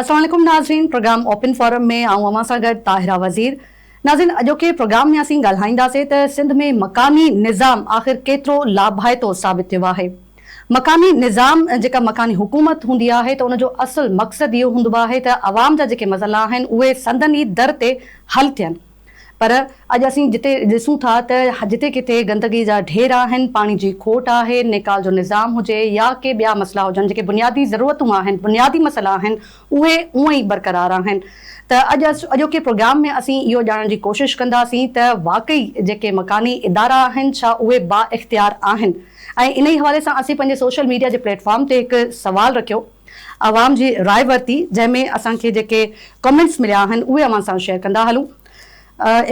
السلام عليڪم ناظرين پروگرام اوپن فورم ۾ آئون اوهان سان گڏ طاهره وزير ناظرين اڄوڪي پروگرام ۾ اسين ڳالهائينداسين ته سنڌ ۾ مڪاني نظام آخر ڪيترو لاڀائتو ثابت ٿيو آهي مڪاني نظام جيڪا مڪاني حڪومت هوندي آهي ته ان جو اصل مقصد اهو هوندو آهي ته عوام جا جيڪي مسئلا آهن اهي سندن ئي در تي حل ٿين پر اڄ اسين جتي ڏسون ٿا ته جتي ڪٿي گندگي جا ڍير آهن، پاڻي جي کوٽ آهي، نيڪال جو نظام هجي يا ڪي ٻيا مسئلا هجن، جيڪي بنيادي ضرورتون آهن، بنيادي مسئلا آهن، اهي اونء ئي برقرار آهن ته اڄ اڄوڪي پروگرام ۾ اسين اهو ڄاڻڻ جي ڪوشش ڪنداسين ته واقعي جيڪي مڪاني ادارا آهن ڇا اهي بااختيار آهن ۽ انهي حوالي سان اسين پنهنجي سوشل ميڊيا جي پليٽ فارم تي هڪ سوال رکيو عوام جي راء ورتي جنهن ۾ اسان کي جيڪي ڪمينٽس مليا آهن اهي اوهان سان شيئر ڪندا هلون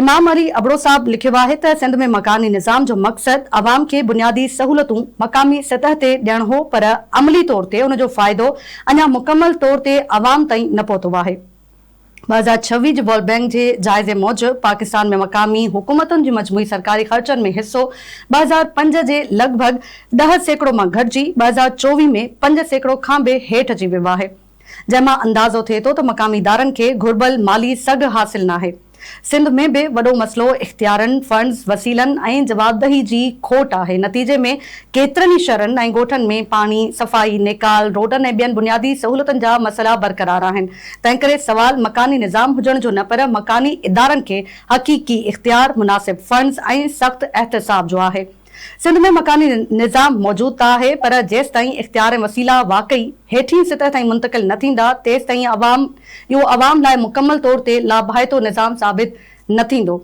امام علي ابڙو صاحب لکيو آهي ته سنڌ ۾ مڪاني نظام جو مقصد عوام کي بنيادي سهولتون مقامي سطح تي ڏيڻ هو پر عملي طور تي ان جو فائدو اڃا مڪمل طور تي عوام تائين نه پهتو آهي. ٻه هزار ڇويهه جي ورلڊ بئنڪ جي جائزي موجب پاڪستان ۾ مقامي حڪومتن جي مجموعي سرڪاري خرچن ۾ حصو ٻه هزار پنج جي لڳ ڀڳ ڏهه سيڪڙو مان گهٽجي ٻه هزار چوويهه ۾ پنج سيڪڙو کان به هيٺ اچي ويو آهي جنهن مان اندازو ٿئي ٿو ته مقامي ادارن کي گهربل مالي سگهه حاصل ناهي. سنڌ ۾ به وڏو مسئلو اختيارن، فنڊز، وسيلن ۽ جوابدهي جي کوٽ آهي نتيجي ۾ ڪيترن ئي شھرن ۽ ڳوٺن ۾ پاڻي، صفائي، نيڪال، روڊن ۽ ٻين بنيادي سهولتن جا مسئلا برقرار آهن تنهنڪري سوال مڪاني نظام هجڻ جو نه پر مڪاني ادارن کي حقيقي اختيار، مناسب فنڊز ۽ سخت احتساب جو آهي. سنڌ ۾ مڪاني نظام موجود ته آهي پر جيستائين اختيار ۽ وسيلا واقعي هيٺين سطح تائين منتقل نه ٿيندا تيستائين عوام اهو عوام لاء مڪمل طور تي لاڀائتو نظام ثابت نه ٿيندو.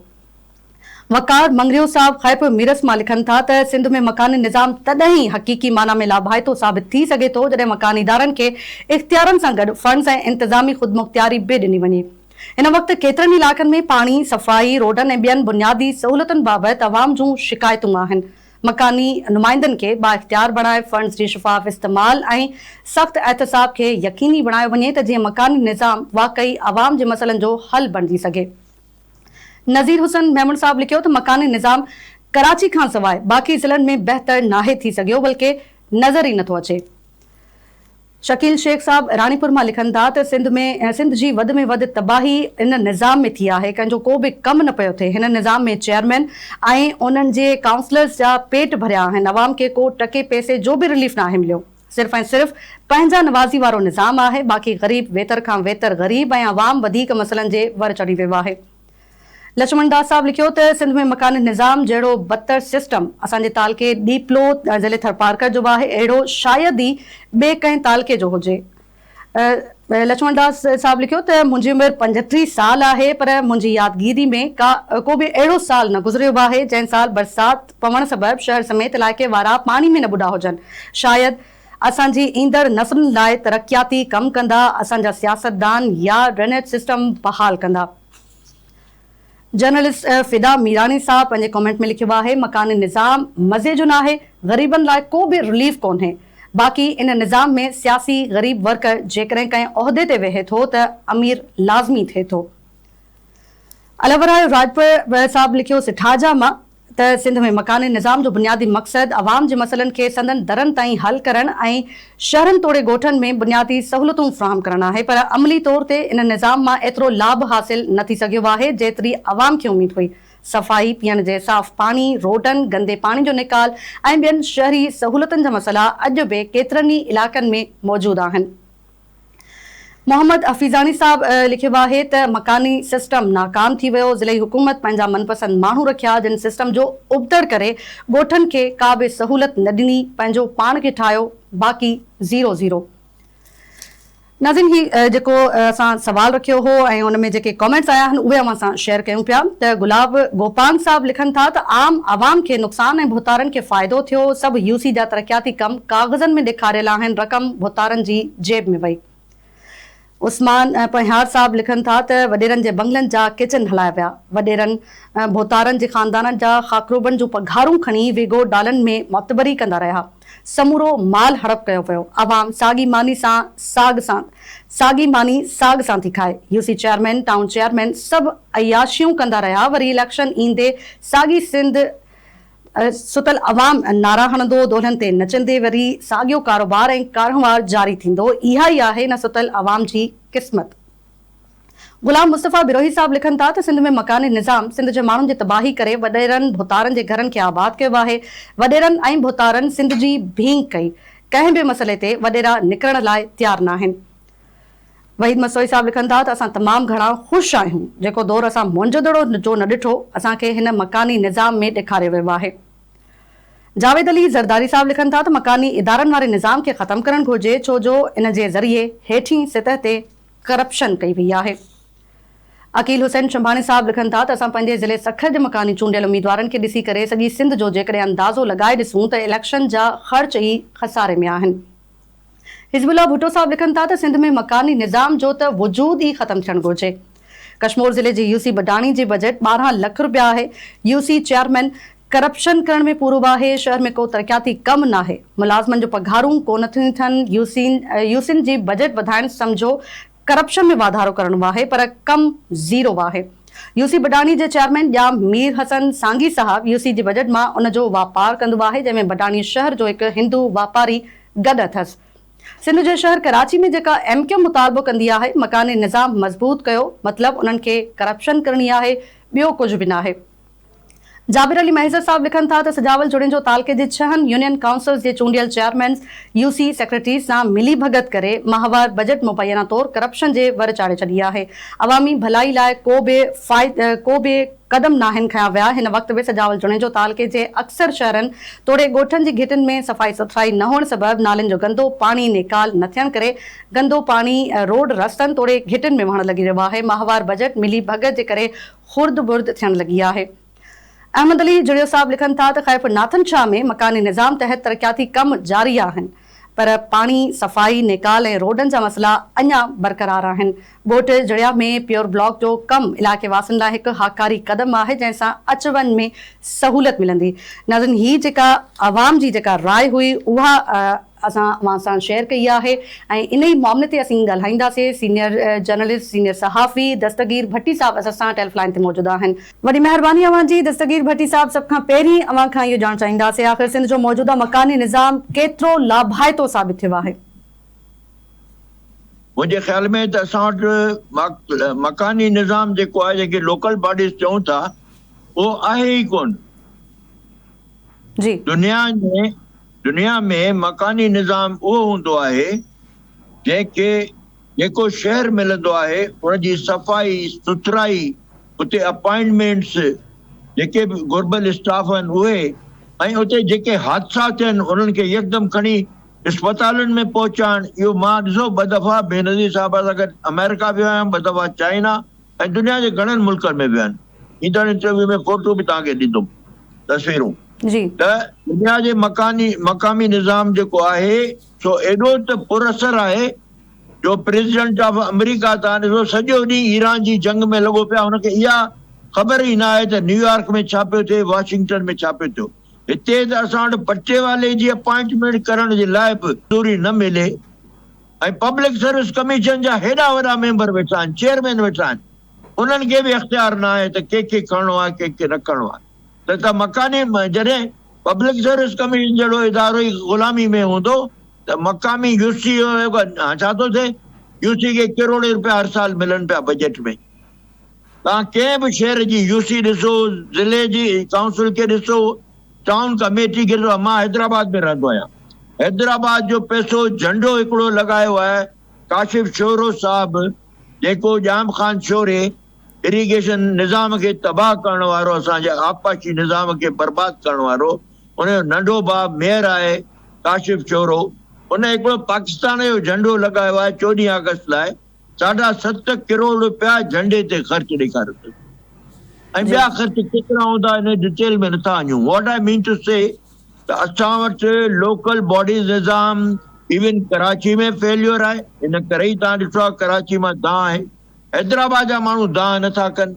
وقار مڱريو صاحب خيپ ميرس مان لکن ٿا ته سنڌ ۾ مڪاني نظام تڏهن ئي حقيقي معنيٰ ۾ لاڀائتو ثابت ٿي سگهي ٿو جڏهن مڪاني ادارن کي اختيارن سان گڏ فنڊز ۽ انتظامي خودمختياري به ڏني وڃي. هن وقت ڪيترن ئي علائقن ۾ پاڻي، صفائي، روڊن ۽ ٻين بنيادي سهولتن بابت عوام جون شڪايتون آهن. مڪاني نمائندن کي بااختيار بڻائي فنڊز جي شفاف استعمال ۽ سخت احتساب کي يقيني بڻايو وڃي ته جيئن مڪاني نظام واقعي عوام جي مسئلن جو حل بڻجي سگهي. نذير حسن ميمڻ صاحب لکيو ته مڪاني نظام ڪراچي کان سواء باقي ضلعن ۾ بهتر ناهي ٿي سگهيو بلڪه نظر ئي نٿو اچي. شڪيل شيخ صاحب راڻيپور مان لکن ٿا ته سنڌ ۾ سنڌ جي وڌ ۾ وڌ تباهي ان نظام ۾ ٿي آهي ڪنهن جو ڪو به ڪم نه پيو ٿئي هن نظام ۾ چيئرمين ۽ انهن جي ڪائونسلرز جا پيٽ ڀريا آهن عوام کي ڪو ٽڪي پئسي جو به رليف ناهي مليو. صرف ۽ صرف پنهنجا نوازي وارو نظام آهي باقي غريب ويتر کان ويتر غريب ۽ عوام وڌيڪ مسئلن جي ور چڙهي ويو آهي. لڇمڻ داس صاحب لکيو ته سنڌ ۾ مڪاني نظام جهڙو بدتر سسٽم اسان جي تعلقي ڏيپلو ضلعي ٿرپارڪر جو به آهي اهڙو شايد ئي ٻئي ڪنهن تعلقي جو هجي. لڇمڻ داس صاحب لکيو ته منهنجي عمر پنجٽيهه سال آهي پر منهنجي يادگيري ۾ ڪا ڪو به اهڙو سال نه گذريو آهي جنهن سال برسات پوڻ سبب شهر سميت علائقي وارا پاڻي ۾ نه ٻڏا هجن شايد اسان جي ايندڙ نسلن لاء ترقياتي ڪم ڪندا اسان جا سياستدان يا ڊرينيج سسٽم بحال ڪندا. جرنلسٽ فدا ميراڻي صاحب پنهنجي ڪمينٽ ۾ لکيو آهي مڪاني نظام مزي جو ناهي غريبن لاء ڪو به رليف ڪونهي باقي ان نظام ۾ سياسي غريب ورڪر جيڪڏهن ڪنهن عهدي تي ويهي ٿو ته امير لازمي ٿئي ٿو. الهورايو راڄپر صاحب لکيو سٺاجا مان ته سنڌ ۾ مڪاني نظام جو بنيادي مقصد عوام جي مسئلن کي سندن درن تائين حل ڪرڻ ۽ شهرن توڙي ڳوٺن ۾ بنيادي سهولتون فراهم ڪرڻ آهي پر عملي طور تي ان نظام مان ايترو لاڀ حاصل نه ٿي سگهيو آهي جيتري عوام کي اميد هئي صفائي پيئڻ جي صاف پاڻي روڊن گندي پاڻي جو نيڪال ۽ ٻين شهري سهولتن جا مسئلا اڄ به ڪيترن ئي علائقن ۾ موجود آهن. محمد حفيظاڻي صاحب لکيو آهي ته مڪاني سسٽم ناڪام ٿي ويو، ضلعي حڪومت پنهنجا من پسند ماڻهو رکيا جن سسٽم جو ابتڙ ڪري ڳوٺن کي ڪا به سهولت نه ڏني پنهنجو پاڻ کي ٺاهيو باقي زيرو زيرو. ناظرين هي جيڪو اسان سوال رکيو هو ۽ ان ۾ جيڪي ڪامينٽس آيا آهن اهي اوهان سان شيئر ڪيون پيا ته گلاب گوپانگ صاحب لکن ٿا ته عام عوام کي نقصان ۽ ڀوتارن کي فائدو ٿيو سڀ يو سي جا ترقياتي ڪم ڪاغذن ۾ ڏيکاريل آهن رقم ڀوتارن جي جيب ۾ وئي. عثمان پنهيار صاحب لکن ٿا ته وڏيرن جي بنگلن جا ڪچن هلايا ويا. وڏيرن ڀوتارن جي خاندانن جا خاڪروبن جون پگهارون کڻي ويگو ڊالن ۾ معتبري ڪندا رهيا. سمورو مال هڙپ ڪيو ويو. عوام ساڳي ماني سان ساڳ سان ساڳي ماني ساڳ سان ٿي کائي. U C chairman, town chairman سڀ عياشيون ڪندا رهيا وري اليڪشن ايندي ساڳي سنڌ، ستل عوام نعرا هڻندو، دولهن تي نچندي وري ساڳيو ڪاروبار ۽ ڪارنهوار جاري ٿيندو، اها ئي آهي ان ستل عوام جي قسمت. غلام مصطفيٰ بروهي صاحب لکن ٿا ته سنڌ ۾ مڪاني نظام سنڌ جي ماڻهن جي تباهي ڪري وڏيرن ڀوتارن جي گهرن کي آباد ڪيو آهي، وڏيرن ۽ ڀوتارن سنڌ جي ڀينگ ڪئي، ڪنهن به مسئلي تي وڏيرا نڪرڻ لاء تيار ناهن، وحيد مسوئي صاحب لکن ٿا ته اسان تمام گهڻا خوش آهيون جيڪو دور اسان موئنجودڙو جو نه ڏٺو اسان کي هن مڪاني نظام ۾ ڏيکاريو ويو آهي. جاويد علي زرداري صاحب لکن ٿا ته مڪاني ادارن واري نظام کي ختم ڪرڻ گهرجي ڇو جو ان جي ذريعي هيٺين سطح تي ڪرپشن ڪئي وئي آهي. عقيل حسين شنڀاڻي صاحب لکن ٿا ته اسان پنهنجي ضلعي سکر جي مڪاني چونڊيل اميدوارن کي ڏسي ڪري سڄي سنڌ جو جيڪڏهن اندازو لڳائي ڏسون ته اليڪشن جا خرچ ئي خساري ۾ آهن. حزب الله ڀٽو صاحب لکن ٿا ته سنڌ ۾ مڪاني نظام جو ته وجود ئي ختم ٿيڻ گهرجي. ڪشمور ضلعي جي يو سي بڊاڻي جي بجيٽ ٻارهن لک رپيا آهي، يو سي چيئرمين ڪرپشن ڪرڻ ۾ پورو آهي، شهر ۾ ڪو ترقياتي ڪم ناهي، ملازمن جو پگهارون ڪونه ٿيون ٿين، يو سين جي بجيٽ وڌائڻ سمجهو ڪرپشن ۾ واڌارو ڪرڻو آهي پر ڪم زيرو آهي، يو سي بڊاڻي جي چيئرمين ڄام مير حسن سانگي صاحب يو سي جي بجيٽ مان ان جو واپار ڪندو آهي جنهن ۾ بڊاڻي شهر جو هڪ هندو واپاري گڏ اٿس سنڌ جي شهر ڪراچي ۾ جيڪا ايم ڪيو مطالبو ڪندي آهي مڪاني نظام مضبوط ڪيو مطلب انهن کي ڪرپشن ڪرڻي آهي ٻيو ڪجهه به ناهي. جابر علي مهيسر صاحب لکن ٿا ته سجاول جوڻيجو تعلقي جي ڇهن يونين ڪائونسلز جي چونڊيل چيئرمينز يو سي سيڪريٽريز سان ملي ڀڳت ڪري ماهوار بجيٽ مبينا طور ڪرپشن جي ور چاڙهي ڇڏي آهي عوامي ڀلائي لاء ڪو به ڪو به قدم ناهن کنيا ويا هن وقت به سجاول جوڻيجو تعلقي جي اڪثر شهرن توڙي ڳوٺن جي گهٽين ۾ صفائي سٿرائي نه هئڻ سبب نالين جو گندو پاڻي نيڪال نه ٿيڻ ڪري گندو پاڻي روڊ رستن توڙي گهٽين ۾ وهڻ لڳي رهيو آهي ماهوار بجيٽ ملي ڀڳت جي ڪري خرد برد ٿيڻ لڳي آهي. احمد علي جويو صاحب لکن ٿا ته خيف ناٿن شاهه ۾ مڪاني نظام تحت ترقياتي ڪم جاري آهن پر پاڻي، صفائي، نيڪال ۽ روڊن جا مسئلا اڃا برقرار آهن. ڳوٺ جڙيا ۾ پيور بلاڪ جو ڪم علائقي واسين لاء هڪ هاڪاري قدم آهي جنهن سان اچ وڃ ۾ سهولت ملندي. ناظرين هي جيڪا عوام جي جيڪا راء هئي اها اسان اوهان سان شيئر ڪئي آهي ۽ انهي معاملي تي اسين ڳالهائينداسين سينئر جرنلسٽ سينئر صحافي دستگير ڀٽي صاحب اسان سان ٽيلف لائين تي موجود آهن. وڏي مهرباني اوهان جي دستگير ڀٽي صاحب سڀ کان پهرين اوهان کان اهو ڄاڻڻ چاهينداسين آخر سنڌ جو موجوده مڪاني نظام ڪيترو لاڀائتو ثابت ٿيو آهي؟ منهنجي خيال ۾ ته اسان وٽ مڪاني نظام جيڪو آهي جنهن کي لوڪل باڊيز چئون ٿا اهو آهي ئي ڪونه. جي. دنيا ۾ دنيا ۾ مڪاني نظام اهو هوندو آهي جنهن کي جيڪو شهر ملندو آهي ان جي صفائي سٿرائي اتي اپائنٽمينٽس جيڪي به گهربل اسٽاف آهن اهي ۽ اتي جيڪي حادثا ٿين انهن کي يڪدم کڻي اسپتالن ۾ پهچائڻ اهو مان ڏسو ٻه دفعا بينظير صاحب سان گڏ آمريڪا ويو آهيان ٻه دفعا چائنا ۽ دنيا جي گهڻن ملڪن ۾ ويو آهيان. ايندڙ انٽرويو ۾ فوٽو به توهان کي ڏيندم تصويرون ته دنيا جي مڪاني مقامي نظام جيڪو آهي سو ايڏو ته پر اثر آهي جو پريزيڊنٽ آف آمريڪا ته هاڻي سو سڄو ڏينهن ايران جي جنگ ۾ لڳو پيو آهي هن کي اها خبر ئي نه آهي ته نيويارڪ ۾ ڇا پيو ٿئي واشنگٽن ۾ ڇا پيو ٿيو هتي ته اسان وٽ پٽيوالي جي اپائنٽمينٽ ڪرڻ جي لاء به منظوري نه ملي ۽ پبلڪ سروس ڪميشن جا هيڏا وڏا ميمبر ويٺا آهن چيئرمين ويٺا آهن. انهن کي به اختيار نه آهي ته ڪنهن کي کڻڻو آهي ڪنهن کي نه کڻڻو آهي نه ته مڪاني جڏهن پبلڪ سروس ڪميشن جهڙو ادارو ئي غلامي ۾ هوندو ته مقامي يو سي ڏانهن ڇا ٿو ٿئي يو سي کي ڪروڙين روپيا هر سال ملن پيا بجيٽ ۾ توهان ڪنهن به شهر جي يو سي ڏسو ضلعي جي ڪائونسل کي ڏسو ٽائون ڪميٽي کي ڏسو مان حيدرآباد ۾ رهندو آهيان حيدرآباد جو پئسو جهنڊو هڪڙو لڳايو آهي ڪاشف شورو صاحب جيڪو ڄام خان شوري اريگيشن نظام کي تباهه ڪرڻ وارو اسان جي آبپاشي نظام کي برباد ڪرڻ وارو ان جو ننڍو ڀاء ميئر آهي ڪاشف شورو ان هڪڙو پاڪستان جو جهنڊو لڳايو آهي چوڏهين آگسٽ لاء ساڍا ست ڪروڙ روپيا جهنڊي تي خرچ ڏيکاريو اٿس ۽ ٻيا خرچ ڪيترا هوندا ان ڊٽيل ۾ نٿا اڃون واٽ آء مين ٽو سي ته اسان وٽ لوڪل باڊيز نظام ايون ڪراچي ۾ فيليور آهي ان ڪري ئي توهان ڏٺو آهي ڪراچي مان دانهن آهي حيدرآباد جا ماڻهو دانهن نه ٿا ڪن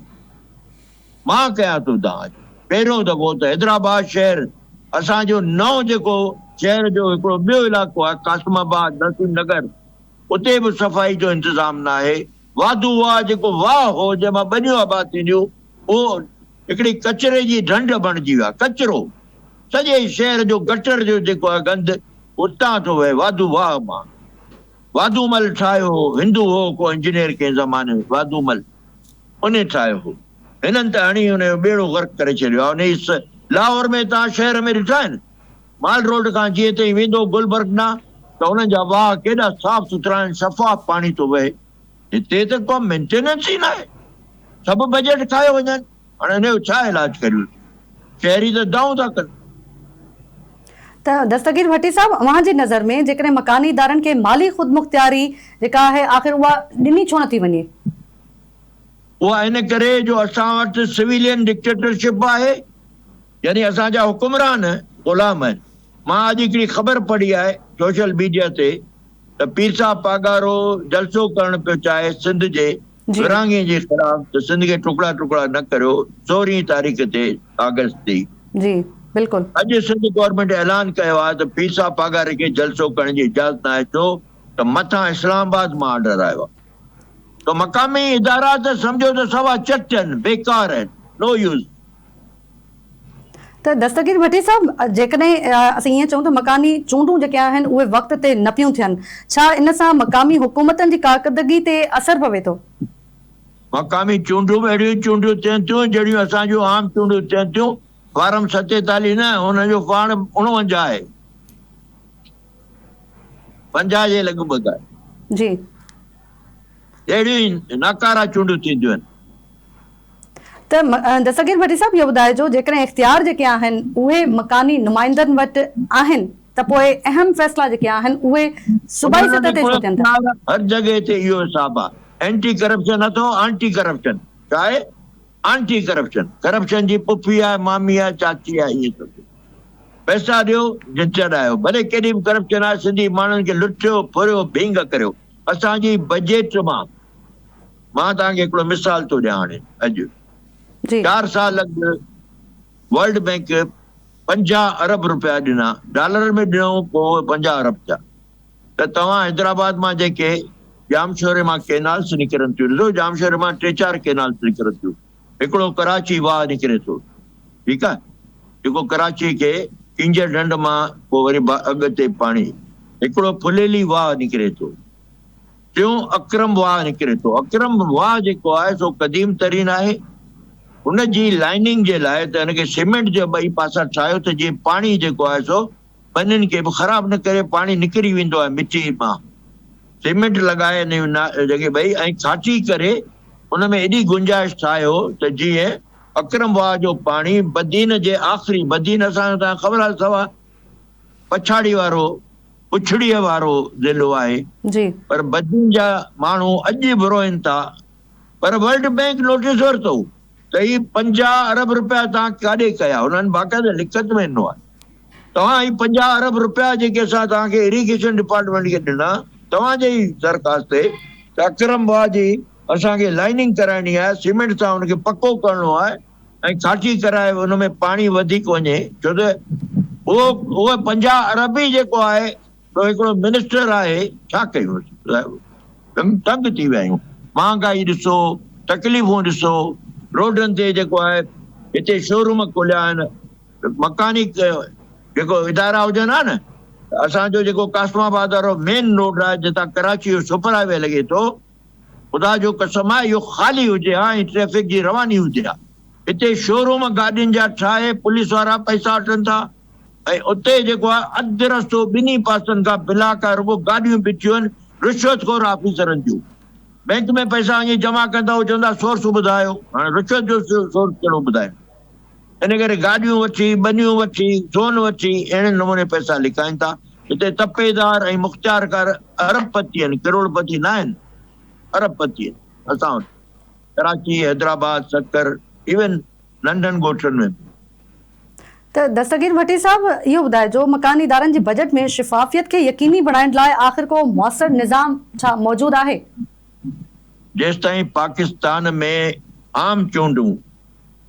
مان ڪيان ٿو دانهن اڄ پهريون دفعو ته حيدرآباد شهر اسان جو نئون جيڪو شهر جو هڪڙو ٻيو علائقو آهي قاسم آباد نسيم نگر اتي به صفائي جو انتظام نه آهي واڌو واهه جيڪو واهه هو جنهن مان ٻنيون آباد ٿينديون اهو هڪڙي ڪچري جي ڍنڍ بڻجي ويو آهي، ڪچرو سڄي شهر جو گٽر جو جيڪو آهي گند اتان ٿو وهي واڌو واهه مان واڌو مل ٺاهيو هو هندو هو ڪو انجنيئر ڪنهن زماني واڌو مل ان ٺاهيو هو هنن ته هڻي ان جو ٻيڙو غرق ڪري ڇڏيو آهي انهي اس لاهور ۾ توهان شهر ۾ ڏٺا آهن مال روڊ کان جيئن تائين ويندو گلبرگ ڏانهن ته انهن جا واهه ڪيڏا صاف سٿرا آهن شفاف پاڻي ٿو وهي هتي ته ڪا مينٽيننس ئي ناهي، سڀ بجيٽ کايو وڃن، هاڻي هن جو ڇا علاج ڪريون، شهري ته دانهون ٿا ڪن. ته دستگير ڀٽي صاحب اوهان جي نظر ۾ جيڪڏهن مڪاني ادارن کي مالي خودمختياري جيڪا آهي آخر اها ڏني ڇو نٿي وڃي؟ اها ان ڪري جو اسان وٽ سويلين ڊڪٽيٽرشپ آهي يعني اسان جا حڪمران غلام آهن، مان اڄ هڪڙي خبر پڙهي آهي سوشل ميڊيا تي، ته پير صاحب پاڳارو جلسو ڪرڻ پيو چاهي سنڌ جي ورهاڱي جي خلاف ته سنڌ کي ٽڪڙا ٽڪڙا نه ڪريو سورهين تاريخ تي آگسٽ تي جي بلڪل. اڄ سنڌ گورنمينٽ اعلان ڪيو آهي ته پير صاحب پاڳاري کي جلسو ڪرڻ جي اجازت نه آهي ڇو ته مٿان اسلام آباد مان آرڊر آيو آهي ته مقامي ادارا ته سمجهو ته سوا چٽ آهن بيڪار آهن نو يوز. ته دستگير ڀٽي صاحب جيڪڏهن اسين ائين چئون ته مڪاني چونڊون جيڪي آهن اهي وقت تي نه پيون ٿين ڇا ان سان مقامي حڪومتن جي ڪارڪردگي تي اثر پوي ٿو؟ مقامي چونڊون به اهڙيون ئي چونڊون ٿين ٿيون جهڙيون اسان جون عام چونڊون ٿين ٿيون فارم ستيتاليهه نه ان جو پاڻ اڻونجاهه آهي پنجاهه جي لڳ ڀڳ آهي جي اهڙيون ئي ناڪارا چونڊون ٿينديون آهن ته دستگير ڀٽي صاحب اهو ٻڌائجو جيڪڏهن اختيار جيڪي آهن اهي مڪاني نمائندن وٽ آهن ته پوء اهم فيصلا جيڪي آهن اهي صوبائي سطح تي ڇو ٿين ٿا؟ هر جڳهه تي اهو حساب آ اينٽي ڪرپشن اٿو آنٽي ڪرپشن ڇا آهي آنٽي ڪرپشن ڪرپشن جي پڦي آهي مامي آهي چاچي آهي ائين ٿو ٿئي پئسا ڏيو جنھن چڙهايو ڀلي ڪيڏي به ڪرپشن آهي سنڌي ماڻهن کي لٽيو ڦريو ڀينگ ڪريو اسان جي بجيٽ مان مان توهان کي هڪڙو مثال ٿو ڏيان هاڻي اڄ جي چار سال اڳ ورلڊ بينڪ پنجاهه ارب روپيا ڏنا ڊالرن ۾ ڏنائون پوء پنجاهه ارب ٿيا ته توهان حيدرآباد مان جيڪي ڄامشوري مان ڪينالس نڪرن ٿيون ڏسو ڄامشوري مان ٽي چار ڪينالس نڪرن ٿيون هڪڙو ڪراچي واهه نڪري ٿو ٺيڪ آهي جيڪو ڪراچي کي ڪينجهر ڍنڍ مان پوء وري اڳ تي پاڻي هڪڙو ڦليلي واهه نڪري ٿو. ٽيون اڪرم واهه نڪري ٿو. اڪرم واهه جيڪو آهي سو قديم ترين آهي. ان جي لائننگ جي لاء ته ان کي سيمينٽ جا ٻئي پاسا ٺاهيو ته جيئن پاڻي جيڪو آهي سو ٻنين کي به خراب نه ڪري. پاڻي نڪري ويندو آهي مٽي مان. سيمينٽ لڳائي ان جڳهه ٻئي ۽ کاٽي ڪري ان ۾ ايڏي گنجائش ٺاهيو ته جيئن اڪرم واهه جو پاڻي بدين جي آخري، بدين اسان کي تان خبر آهي سوا پڇاڙي وارو پڇڙيء وارو ضلعو آهي پر بدين جا ماڻهو اڄ به روئن ٿا پر ورلڊ بئنڪ نوٽيس ورتو ته هي پنجاهه ارب رپيا توهان ڪاڏي ڪيا هنن باقاعده لکت ۾ ڏنو آهي توهان هي پنجاهه ارب رپيا جيڪي اسان توهان کي اريگيشن ڊپارٽمينٽ کي ڏنا توهان جي ئي درخواست تي ته اڪرم واهه جي اسان کي لائننگ ڪرائڻي آهي سيمينٽ سان ان کي پڪو ڪرڻو آهي ۽ ڇاڇي ڪرائي ان ۾ پاڻي وڌيڪ وڃي ڇو ته اهو اهو پنجاهه ارب ئي جيڪو آهي سو هڪڙو منسٽر آهي ڇا ڪيون صاحب تنگ ٿي ويا آهيون مهانگائي ڏسو تڪليفون ڏسو روڊن تي جيڪو آهي هتي شوروم کوليا آهن مڪانيڪ جيڪو ادارا هجن ها نه اسان جو جيڪو قاسم آباد وارو مين روڊ آهي جتان ڪراچي جو سپر هاء وي لڳي ٿو خدا جو قسم آ اهو خالي هجي ها ۽ ٽريفڪ جي رواني هجي ها هتي شوروم گاڏين جا ٺاهي پوليس وارا پئسا وٺن ٿا ۽ اتي جيڪو آ اڌ رستو ٻنهي پاسن کان بلاڪ آ رڳو گاڏيون بيٺيون آهن رشوت خور آفيسرن جون بينڪ ۾ پئسا وڃي جمع ڪن ٿا اهو چون ٿا سورس ٻڌايو هاڻي رشوت جو سورس ڪهڙو ٻڌايون. ان ڪري گاڏيون وٺي، ٻنيون وٺي، سون وٺي اهڙي نموني پئسا لڪائين ٿا. هتي تپيدار ۽ مختيارڪار ارب پتي آهن، ڪروڙ پتي نه آهن، ارب پتي آهن اسان وٽ ڪراچي، حيدرآباد، سکر ايون ننڍن ڳوٺن ۾ به. ته دستگير ڀٽي صاحب اهو ٻڌائجو مڪاني ادارن جي بجيٽ ۾ شفافيت کي يقيني بڻائڻ لاء آخر ڪو موثر نظام ڇا موجود آهي؟ جيستائين پاڪستان ۾ عام چونڊون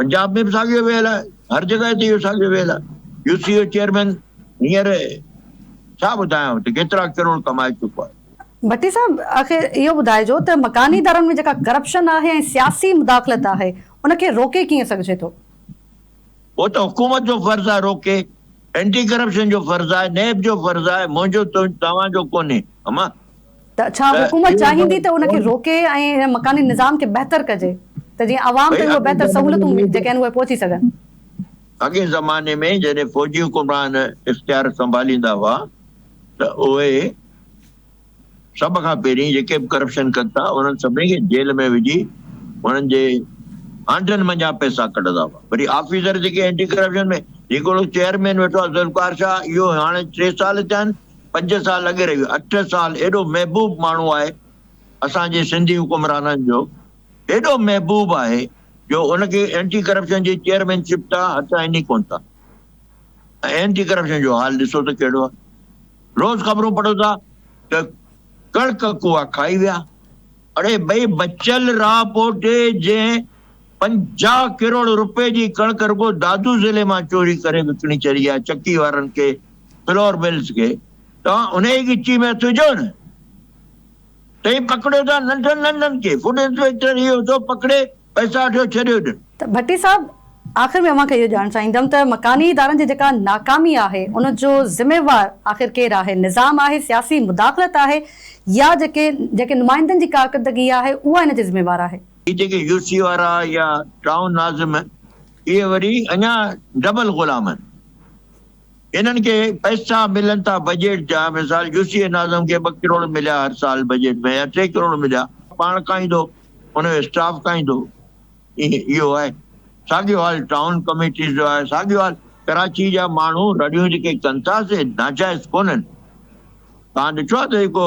پنجاب ۾ به ساڳيو ويل آهي، هر جڳهه تي اهو ساڳيو ويل آهي، يو سي او چيئرمين هينئر ڇا ٻڌايانو ته ڪيترا ڪروڙ ڪمائي چڪو آهي. ڀٽي صاحب آخر اهو ٻڌائجو ته مڪاني ادارن ۾ جيڪا ڪرپشن آهي ۽ سياسي مداخلت آهي ان کي روڪي ڪيئن سگهجي ٿو؟ اهو ته حڪومت جو فرض آهي روڪي، اينٽي ڪرپشن جو فرض آهي، نيب جو فرض آهي، منهنجو توهان جو ڪونهي اما. ته ڇا حڪومت چاهيندي ته ان کي روڪي ۽ مڪاني نظام کي بهتر ڪجي ته جيئن عوام تائين اهي بهتر سهولتون جيڪي آهن اهي پهچي سگهن؟ اڳئين زماني ۾ جڏهن فوجي حڪمران اختيار سنڀاليندا هئا ته اهي سڀ کان پهرين جيڪي به ڪرپشن ڪن ٿا انهن سڀني کي جيل ۾ وجهي انهن جي آنڊن منجهان پئسا ڪڍندا هئا وري آفيسر جيڪي اينٽي ڪرپشن ۾ جيڪو چيئرمين ويٺو آهي ذوالفقار شاهه اهو هاڻي ٽي سال ٿيا آهن پنج سال اڳ رهيو اٺ سال ايڏو محبوب ماڻهو آهي اسان جي سنڌي حڪمرانن جو ايڏو محبوب آهي جو ان کي اينٽي ڪرپشن جي چيئرمين شپ تان هٽائين ئي ڪونه ٿا ۽ اينٽي ڪرپشن جو حال ڏسو ته ڪهڙو آهي روز خبرون پڙهو ٿا ته ڪڻڪ ڪوئا کائي ويا اڙي ڀئي بچل راهپوٽي جنهن پنجاهه ڪروڙ رپئي جي ڪڻڪ رڳو دادو ضلعي مان چوري ڪري وڪڻي ڇڏي آهي چڪي وارن کي فلور ملز کي توهان انهي ڳچي ۾ هٿ وجهو نه تئين پڪڙيو ٿا ننڍن ننڍن کي فوڊ انسپيڪٽر هي هو سو پڪڙي پئسا وٺيو ڇڏيو ڏن. ته ڀٽي صاحب آخر ۾ اوهان کي اهو ڄاڻڻ چاهيندم ته مڪاني ادارن جي جيڪا ناڪامي آهي ان جو ذميوار آخر ڪير آهي نظام آهي سياسي مداخلت آهي يا جيڪي جيڪي نمائندن جي ڪارڪردگي آهي اها ان جي ذميوار آهي. هي جيڪي يو سي وارا يا ٽائون ناظم اهي وري اڃا ڊبل غلام آهن انهن کي پئسا ملن ٿا بجيٽ جا مثال يو سي ناظم کي ٻه ڪروڙ مليا هر سال بجيٽ ۾ يا ٽي ڪروڙ مليا پاڻ کائيندو ان جو اسٽاف کائيندو اهو آهي ساڳيو حال ٽائون ڪميٽيز جو آهي ساڳيو حال ڪراچي جا ماڻهو رڙيون جيڪي ڪن ٿا سي ناجائز ڪونهن تان ڏٺو آهي ته جيڪو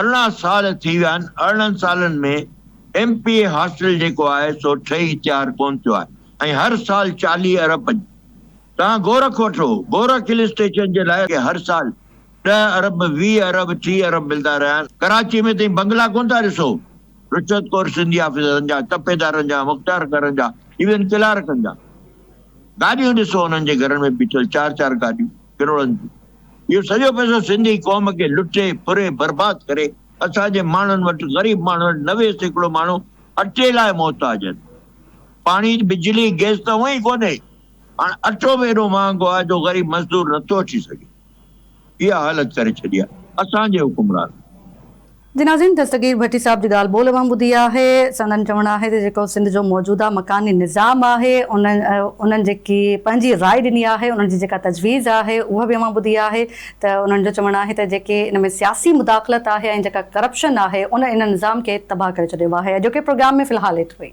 ارڙهن سال ٿي ويا آهن، ارڙهن سالن ۾ ايم پي اي هاسٽل جيڪو آهي سو ٺهي تيار ڪونه ٿيو آهي ۽ هر سال چاليهه ارب جي توهان گورک وٺو گورک هل اسٽيشن جي لاء هر سال ڏهه ارب ويهه ارب ٽيهه ارب ملدا رهيا آهن، ڪراچي ۾ تهين بنگلا ڪونه ٿا ڏسو رشوت خور سنڌي آفيسرن جا، تپيدارن جا، مختيار گهرن جا ايون ڪلارڪن جا گاڏيون ڏسو انهن جي گهرن ۾ بيٺل چار چار گاڏيون. ڪروڙن جي اهو سڄو پئسو سنڌي قوم کي لٽي ڦري برباد ڪري اسان جي ماڻهن وٽ غريب ماڻهن وٽ نوي سيڪڙو ماڻهو اٽي لاء محتاج آهن پاڻي بجلي گئس ته هونئن ئي ڪونهي هاڻ اٽو به ايڏو مهانگو آهي جو غريب مزدور نٿو اچي سگهي اها حالت ڪري ڇڏي آهي اسان جي حڪمرانن. جنازين دستگير ڀٽي صاحب جي ڳالهه ٻولهه مان ٻڌي آهي، سندن چوڻ آهي ته جيڪو سنڌ جو موجوده مڪاني نظام آهي انهن جيڪي پنهنجي راء ڏني آهي انهن جي جيڪا تجويز آهي اها به اوهان ٻڌي آهي ته انهن جو چوڻ آهي ته جيڪي ان ۾ سياسي مداخلت آهي ۽ جيڪا ڪرپشن آهي ان ان نظام کي تباهه ڪري ڇڏيو آهي اڄوڪي پروگرام ۾ في الحال ايترو ئي.